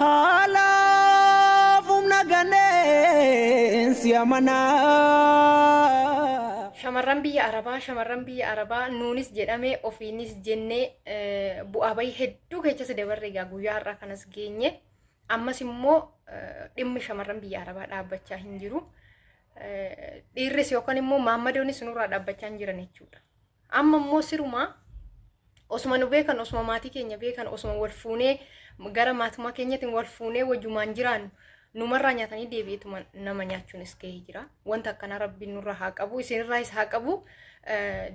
Haalaaf humna ganneen si amanaa. Shamarran biyya Arabaa, shamarran biyya Arabaa nuunis jedhame ofiinis jennee eh, bu'aa bahii hedduu keessa si dabarre egaa guyyaa har'aa kanas geenye. Ammas immoo eh, dhimmi shamarran biyya Arabaa dhaabbachaa hin jiru. Eh, Dhiirris yookaan immoo maammadoonis nurraa dhaabbachaa hin jiran jechuudha. Amma immoo sirumaa osuma nu beekan osuma maatii keenya beekan osuma wal fuunee gara maatumaa keenyatiin wal fuunee wajumaan jiraannu numarraa nyaatanii deebi'eetuma nama nyaachuun is gahee jira. Wanta akkanaa rabbiin nurraa haa qabu isinirraa is haa qabu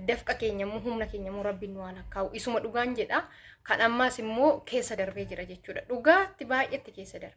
dafqa keenya immoo humna keenya immoo rabbiin nu haa lakkaa'u isuma dhugaan jedha kan ammaas immoo keessa darbee jira jechuudha dhugaatti baay'eetti keessa darbe.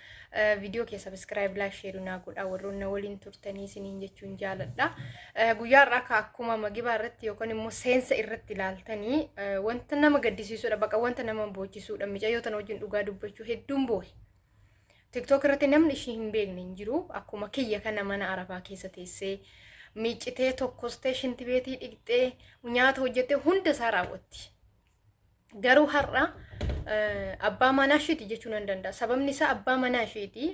Viidiyoo kee sabiskiraayib laayik sheerii naa godhaa warroon na waliin turtanii isiniin jechuun jaaladha. Guyyaa irraa akka akkuma magibaa irratti yookaan immoo seensa irratti ilaaltanii wanta nama gaddisiisudha baqa wanta nama boochisudha micayyoo tana wajjin dhugaa dubbachuu hedduun boohe. Tiktook irratti namni ishii hin beekne hin jiru akkuma kiyya kana mana arabaa keessa teessee miiccitee tokkostee shintibeetii dhiqxee nyaata hojjettee hunda isaa raawwatti. Garuu har'a abbaa manaa isheeti jechuu nan danda'a. Sababni isaa abbaa manaa isheeti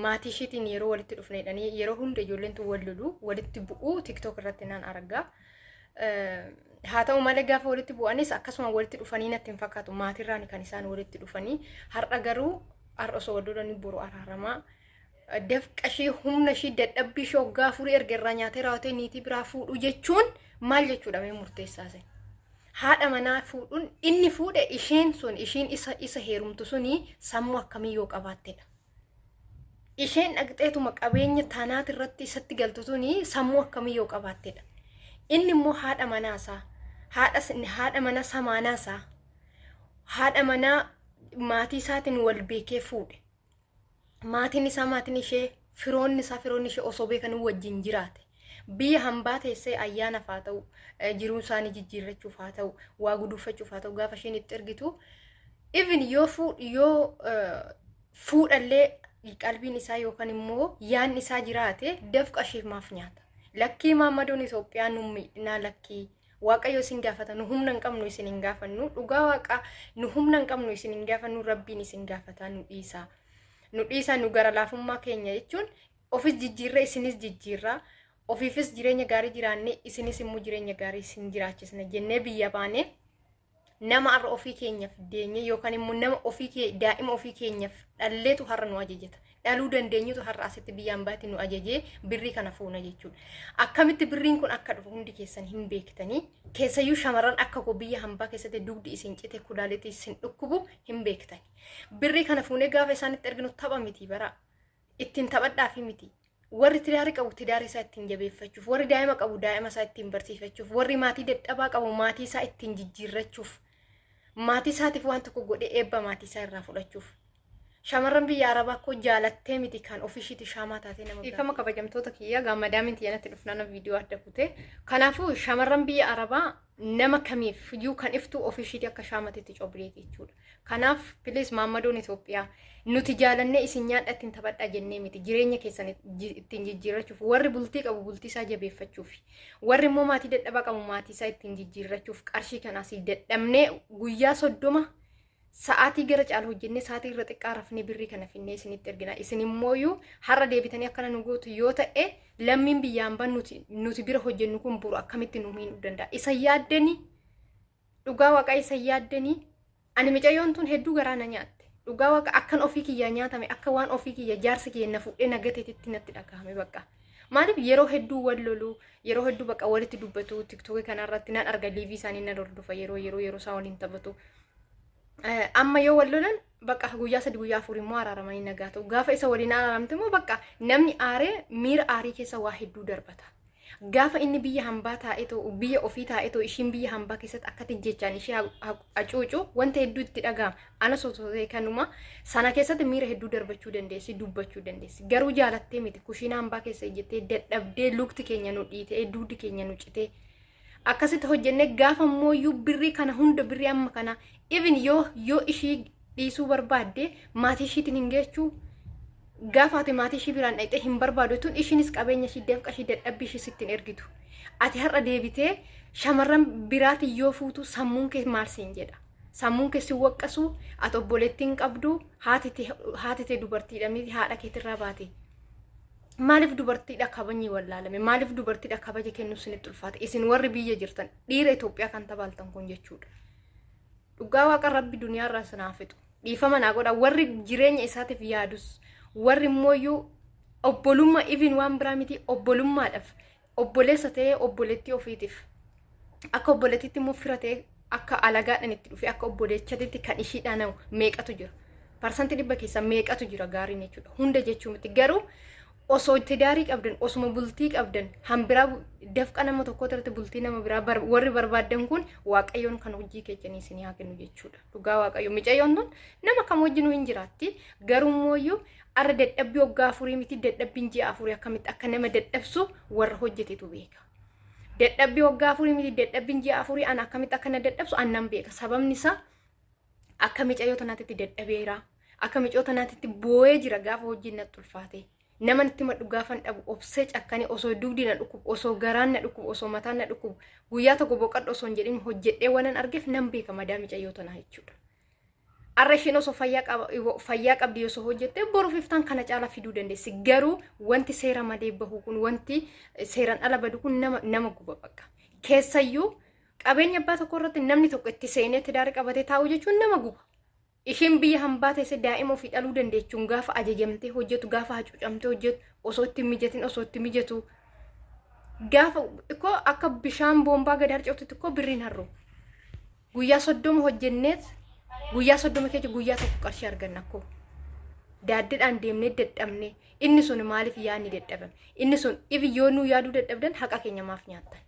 maatii isheetiin yeroo walitti dhufneedhanii yeroo hunda ijoolleen tun wal lolu walitti bu'uu tiktook irratti nan arga. Haa ta'u malee gaafa walitti bu'anis akkasuma walitti dhufanii natti hin fakkaatu maatiirraan kan isaan walitti dhufanii har'a garuu har'a osoo wal lolanii boru araaramaa Dafqa ishii, humna ishii, dadhabbii ishii waggaa afurii erga irraa nyaatee raawwatee niitii biraa fuudhuu jechuun maal jechuudha mee murteessaa isin? Haadha manaa fuudhuun inni fuudhe isheen sun ishiin isa isa heerumtu suni sammuu akkamii yoo qabaattedha. Isheen dhaqxeetuma qabeenya taanaati irratti isatti galtu suni sammuu akkamii yoo qabaattedha. Inni immoo haadha manaa isaa, haadha s- haadha manaa samaanaa isaa, haadha manaa maatii isaatiin wal beekee fuudhe. maatiin isaa maatiin ishee firoonni isaa firoonni ishee osoo beekanii wajjin jiraate biyya hambaa teessee ayyaanaaf haa ta'u eh, jiruu isaanii jijjiirrachuuf haa ta'u waa guduunfachuuf haa ta'u gaafa isheen itti ergitu even yoo fuu yoo eh, fuudhallee qalbiin isaa yookaan immoo yaan isaa jiraate dafqa ishee maaf nyaata lakkii maammadoon Itoophiyaa nu miidhinaa lakkii Waaqayyo isin gaafata nu humna hin qabnu isin hin gaafannu dhugaa waaqa nu humna hin qabnu isin hin gaafannu rabbiin isin gaafataa nu dhiisaa nu dhiisaa nu gara laafummaa keenya jechuun ofis jijjiirree isinis jijjiirraa ofiifis jireenya gaarii jiraannee isinis immoo jireenya gaarii isin jiraachisna jennee biyya baanee Nama har'a ofii keenyaaf deenyee yookaan immoo nama ofii kee daa'ima ofii keenyaaf dhalleetu har'a nu ajajata. Dhaluu dandeenyutu har'a asitti biyya ambaatti nu ajajee birrii kana fuuna jechuudha. Akkamitti birriin kun akka dhufu hundi keessan hin beektanii keessayyuu shamarran akka koo biyya hambaa keessatti dugdi isin cite kulaalitii isin dhukkubu hin beektani. Birrii kana fuunee gaafa isaanitti erginu tapha miti baraa. ittiin taphadhaafii miti. Warri tidaari qabu tidaari isaa ittiin jabeeffachuuf, warri daa'ima qabu daa'ima isaa ittiin barsiifachuuf, warri maatii dadhabaa qabu maatii isaa ittiin jijjiirrachuuf, maatii isaatiif waan tokko godhee eebba maatii isaa irraa fudhachuuf. Shamarran biyya Arabaa koo jaalattee miti kan ofishiiti shaamaa taatee nama Dhiifama kabajamtoota kiyya gaammadaa miti yanatti dhufnaan viidiyoo adda kutee. Kanaafuu shamarran biyya Arabaa nama kamiif iyyuu kan iftu ofii ishiitii akka shaamatti itti cobbireeti jechuudha. Kanaaf please maammadoon Itoophiyaa nuti jaalannee isin nyaadha ittiin taphadhaa jennee miti jireenya keessan ji- ittiin jijjiirrachuuf warri bultii qabu bultii isaa jabeeffachuuf warri immoo maatii dadhabaa qabu maatii isaa ittiin jijjiirrachuuf qarshii kanaas dadhabnee guyyaa soddoma sa'aatii gara caalu hojjennee sa'aatii irra xiqqaa rafnee birrii kana finnee isinitti ergina isin immooyyuu har'a deebitanii akkana nu gootu yoo ta'e lammiin biyyaan ban nuti nuti bira hojjennu kun buru akkamitti nu miidhuu danda'a isa yaaddanii dhugaa waaqaa isa yaaddanii ani micayyoon tun hedduu garaa na nyaatte dhugaa waaqa akkan ofii kiyyaa nyaatame akka waan ofii kiyya jaarsa kiyya na fudhee na gateetitti natti dhagahame bakka maaliif yeroo hedduu wal lolu yeroo hedduu bakka walitti dubbatu tiktookii kanarratti nan arga liivii isaanii nan hordofa yeroo yeroo yeroo isaa waliin taphatu Eh, amma yoo wal lolan bakka guyyaa sadi guyyaa afur immoo araaramanii nagaa ta'u gaafa isa waliin araaramte immoo bakka namni aaree miira aarii keessa waa hedduu darbata gaafa inni biyya hambaa taa'ee ta'u biyya ofii taa'ee ta'u ishiin biyya hambaa keessatti akkatti jechaan ishee ha- ha- hacuucu wanta hedduu itti dhaga'ama ana sosoosee kanuma sana keessatti miira hedduu darbachuu dandeessi dubbachuu dandeessi garuu jaalattee miti kushiina hambaa keessa ijjettee dadhabdee lukti keenya nu dhiitee dugdi keenya nu citee akkasitti hojjennee gaafa mooyyuu birrii kana hunda birrii amma kana even yoo yoo ishii dhiisuu barbaadde maatii ishiitiin hin geechuu gaafa ati maatii ishii biraan dhaqxee hin barbaadu tun ishiinis qabeenya ishii dafqa ishii dadhabbii ishii sittiin ergitu ati har'a deebitee shamarran biraatiin yoo fuutu sammuun kee maal siin jedha sammuun kee si waqqasu ati obboleettiin qabdu haati tee dubartiidha miti haadha keetirraa baate Maaliif dubartiidha kabajni wallaalame? Maaliif dubartiidha kabaja kennuuf isinitti ulfaate? Isin warri biyya jirtan dhiira Itoophiyaa kan tabaaltan kun jechuudha. Dhugaa waaqa rabbi duniyaarraa isin haa fixu. Dhiifama naa godha warri jireenya isaatiif yaadus warri immoo obbolummaa even waan biraa miti obbolummaadhaaf obboleessa ta'ee obboleettii ofiitiif akka obboleettiitti immoo fira ta'ee akka alagaadhaan itti dhufee akka obboleechatitti kan ishii dhaanamu meeqatu jira. Parsanti dhibba keessa meeqatu jira gaariin jechuudha. Hunda jechuu miti garuu osoo tidaarii qabdan osuma bultii qabdan hambiraa dafqa nama tokko irratti bultii nama biraa bar- warri barbaaddan kun waaqayyoon kan hojii keessanii isinii haa kennu jechuudha. Dhugaa waaqayyo micayyoon tun nama kam wajjinuu hin jiraatti garuu immoo Arra dadhabbii waggaa afurii miti dadhabbiin ji'a afurii akkamitti akka nama dadhabsu warra hojjetetu beeka. Dadhabbii waggaa afurii miti dadhabbiin ji'a afurii an akkamitti akka na dadhabsu an nan beeka. Sababni isaa akka micayyoo tanaatitti dadhabeera. Akka micayyoo tanaatitti boo'ee jira gaafa hojiin natti ulfaate. Nama natti madhu gaafan dhabu obsee cakkanii osoo dugdi na dhukkubu osoo garaan na dhukkubu osoo mataan na dhukkubu guyyaa tokko boqadhu osoo hin jedhin hojjedhee waan an argeef nan beeka madaa micayyoo tanaa jechuudha. Arra isheen osoo fayyaa qaba- iwo- fayyaa qabdi osoo hojjette boruuf iftaan kana caalaa fiduu dandeessi. Garuu wanti seera malee bahu kun wanti eh, seeraan ala badu kun nama, nama guba bakka. Keessayyuu qabeenya abbaa tokko irratti namni tokko itti seenee tidaara qabatee taa'u jechuun nama guba. Isheen biyya hambaa teessee daa'ima ofii dhaluu dandeechuun gaafa ajajamtee hojjetu, gaafa hacuucamtee hojjetu, osoo itti hin mijatin osoo itti mijatu. Gaafa ikkoo akka bishaan boombaa gad harca'utti ikkoo birriin harru. Guyyaa soddoma hojjenneet guyyaa soddoma keessa guyyaa tokko qarshii arganna akkoo. Daaddidhaan deemnee dadhabne inni sun maaliif yaadni dadhaban inni sun ifi yoo nuu yaaduu dadhabdan haqa keenya maaf nyaattan.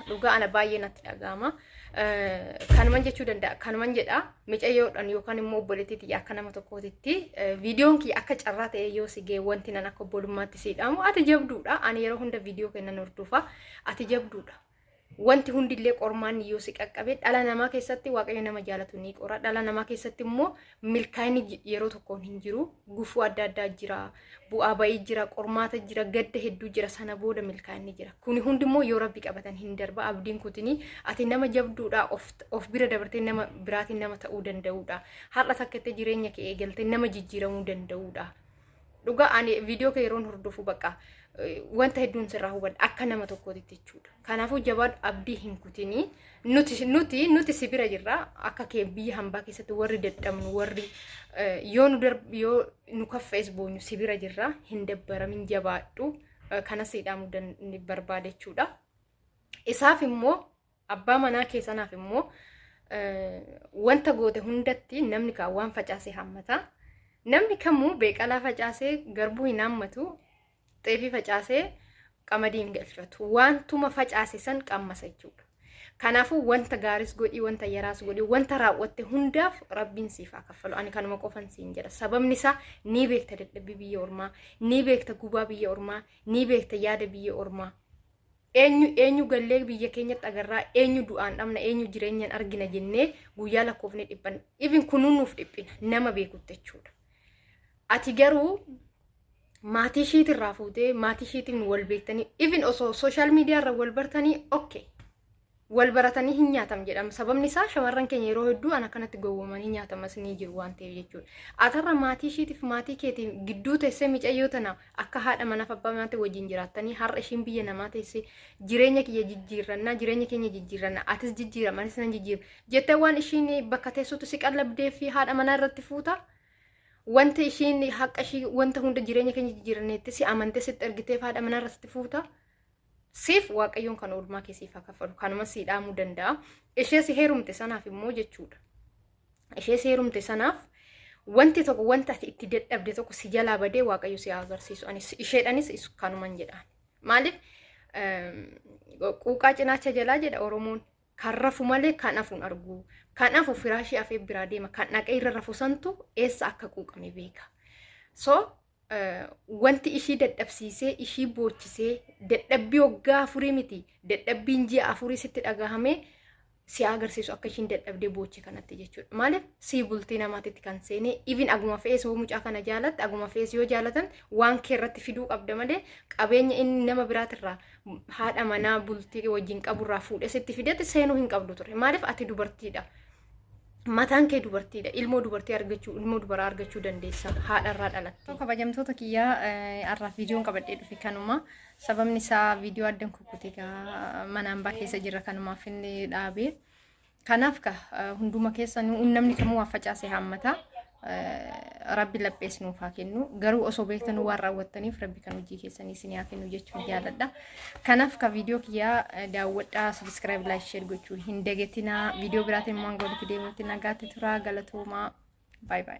Dhugaa ana baay'ee natti dhaga'ama. Kanuman jechuu danda'a kanuman jedha micayyoodhaan yookaan immoo obboleettiitii akka nama tokkootitti viidiyoon kiyya akka carraa ta'ee yoo si ga'e wanti nan akka obbolummaatti siidhaamu ati jabduudha ani yeroo hunda viidiyoo kennan hordofa ati jabduudha. Wanti hundillee qormaanni yoo si qaqqabe dhala namaa keessatti waaqayyo nama jaalatu ni qora. Dhala namaa keessatti immoo milkaa'inni j- yeroo tokkoon hin jiru. Gufuu adda addaa jira. Bu'aa ba'ii jira. Qormaata jira. Gadda hedduu jira. Sana booda milkaa'inni jira. Kuni hundi immoo yoo rabbi qabatan hin darba. Abdiin kutini ati nama jabduudha. Of, of bira dabartee nama biraatiin nama ta'uu danda'uudha. Har'a takka itti jireenya kee eegaltee nama jijjiiramuu danda'uudha. Dhugaa ani viidiyoo kee yeroon hordofu bakka wanta hedduun sirraa hubadha akka nama tokkootitti jechuudha. Kanaafuu jabaadhu abdii hin kutinii nuti nuti nuti si bira jirra akka kee biyya hambaa keessatti warri dadhabnu warri yoo nu darb yoo nu kaffees boonyu si bira jirra hin dabbaramin jabaadhu kanas hidhaamuu barbaada jechuudha. Isaaf immoo Abbaa manaa kee sanaaf immoo wanta goote hundatti namni kaan waan facaase hammata. Namni kamuu beeqalaa facaasee garbuu hin hammatu, xeefii facaasee qamadii hin galfatu. Wantuma facaase san qammasa jechuudha. Kanaafuu wanta gaaris godhii, wanta yaraas godhii, wanta raawwatte hundaaf rabbiin siif haa kaffalu. Ani kanuma qofan siin jedha. Sababni isaa ni beekta dadhabbii biyya ormaa, ni beekta gubaa biyya ormaa, ni beekta yaada biyya ormaa. Eenyu eenyu gallee biyya keenyatti agarraa eenyu du'aan dhabna eenyu jireenyan argina jennee guyyaa lakkoofne dhiphanna. Even kunuu nuuf dhiphina nama beekutti jechuudha. Ati garuu maatii ishiitirraa fuutee maatii ishiitiin wal beektanii even osoo sooshaal miidiyaarra wal bartanii okay. Wal baratanii hin nyaatamu jedhama. Sababni isaa shamarran keenya yeroo hedduu ana kanatti gowwomanii nyaatamas ni jiru waan ta'eef jechuudha. Atarra maatii ishiitiif maatii keetii gidduu teessee micayyoo tana akka haadha manaaf abbaa manaatti wajjin jiraattanii har'a ishiin biyya namaa teessee jireenya kiyya jijjiirrannaa jireenya keenya jijjiirrannaa atis jijjiiram anis nan jijjiiru jettee waan ishiin bakka teessuutu si qallabdee fi haadha manaa irratti fuuta. Wanti ishiin haqa ishii wanta hunda jireenya keenya jijjiiranneetti si amantee sitti ergiteef haadha manaa irratti fuuta. siif waaqayyoon kan oolmaa kee siif haa kaffalu kanuma sii dhaamuu danda'a ishee si heerumte sanaaf immoo jechuudha ishee si heerumte sanaaf wanti tokko wanta ati itti dadhabde tokko si jalaa badee waaqayyo si haa agarsiisu anis isheedhanis is- kanuman jedha maaliif ehm, quuqaa cinaacha jalaa jedha oromoon kan rafu malee kan hafu hin argu kan hafu firaashii afee biraa deema kan dhaqee irra rafu santu eessa akka quuqame beeka so wanti ishii dadhabsiisee ishii boochisee dadhabbii waggaa afurii miti dadhabbiin ji'a afurii sitti dhagahamee si agarsiisu akka ishiin dadhabdee boochi kanatti jechuudha. Maaliif sii bultii namaatitti kan seene even aguma fe'ees hoo mucaa kana jaalatte aguma fe'ees yoo jaalatan waan kee irratti fiduu qabda malee qabeenya inni nama biraatirraa haadha manaa bultii wajjin qaburraa fuudhee sitti fidetti seenuu hin qabdu ture. Maaliif ati dubartiidha. mataan kee dubartiidha ilmoo dubartii argachuu ilmoo dubaraa argachuu dandeessa haadharraa dhalatte. kabajamtoota kiyyaa har'aaf viidiyoon qabadhee dhufe kanuma sababni isaa viidiyoo addan kukkute mana ambaa keessa jira kanumaaf inni dhaabee kanaaf ka hunduma keessa namni kamuu waa facaase haammata Rabbi laphees nuuf haa kennu. Garuu osoo beektanii waan raawwattaniif rabbi kan hojii keessanii isin haa kennu jechuun jaaladha. Kanaaf ka viidiyoo kiyyaa daawwadhaa sabiskiraayib laayik sheer gochuu hin dagatinaa. Viidiyoo biraatiin immoo hanga walitti deemuutti nagaatti turaa galatoomaa. Baay baay.